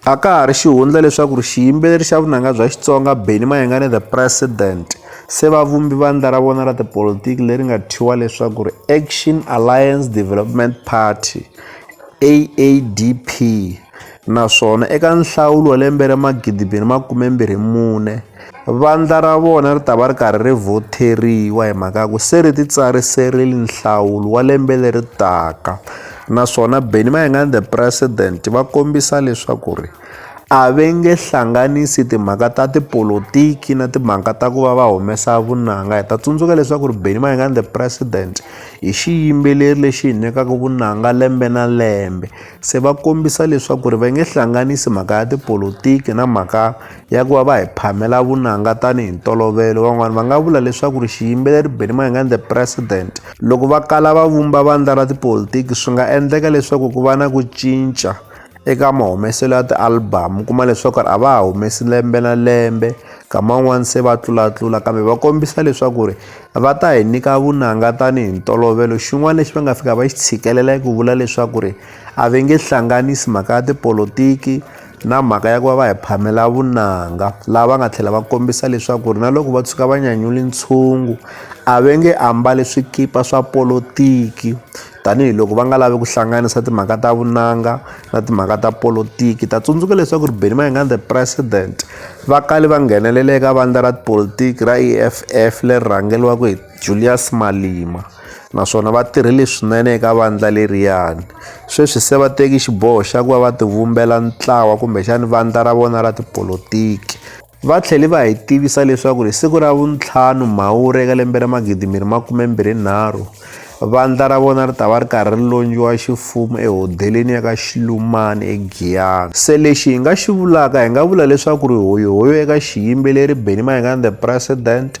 A ka ha ri xihundla leswaku ri xiyimbeleri xa vunanga bya Xitsonga Benny Mayengani The President se va vumbi vandla ra vona ra tipolitiki leri nga thyiwa leswaku ri Action Alliance Development Party, AADP, naswona eka nhlawulo wa lembe ra 2024, Vandla ra vona ri ta va ri karhi ri vhoteriwa hi mhaka ya ku se ri titsariserile nhlawulo wa lembe leri taka naswona Benny Mayengani the president va kombisa leswaku ri a ve nge hlanganisi timhaka ta tipolotiki na timhaka ta ku va va humesa vunanga hi ta tsundzuka leswaku ri Benny Mayengani the president hi xiyimbeleri lexi hi nyikaka vunanga lembe na lembe se va kombisa leswaku ri va nge hlanganisi mhaka ya tipolotiki na mhaka ya ku va va hi phamela vunanga tanihi ntolovelo van'wana va nga vula leswaku ri xiyimbeleri benny mayengani the president loko va kala va vumba vandla ra tipolitiki swi nga endleka leswaku ku va na ku cinca eka mahumeselo ya ti-album kuma leswaku a va ha humesi lembe na lembe kama un'wana se va tlulatlula kambe va kombisa leswaku ri va ta hi nyika vunanga tanihi ntolovelo xin'wana lexi va nga fika va xi tshikelela ku vula leswaku ri a va nge hlanganisi mhaka ya tipolotiki na mhaka ya ku va va hi phamela vunanga laha va nga tlhela va kombisa leswaku ri na loko va tshuka va nyanyule ntshungu a va nge ambali swikipa swa polotiki tanihiloko va nga lavi ku hlanganisa timhaka ta vunanga na timhaka ta polotiki ta tsundzuka leswaku ri beni mayingani the president va kale va nghenelela eka vandla ra tipolotiki ra e f f leri rhangeriwaka hi Julius Malema naswona va tirhile swinene eka vandla leriyani sweswi se va teki xiboho xa ku va va tivumbela ntlawa kumbexani vandla ra vona ra tipolotiki va tlhele va hi tivisa leswaku hi siku ra vuntlhanu mhawuri eka lembe ra magidi miri makume mbirhi nharhu vandla ra vona ri ta va ri karhi ri lonjiwa xifumu ehodeleni ya ka xilumani egiyana se lexi hi nga xi vulaka hi nga vula leswaku ri hoyohoyo eka xiyimbeleri benny mayengani the president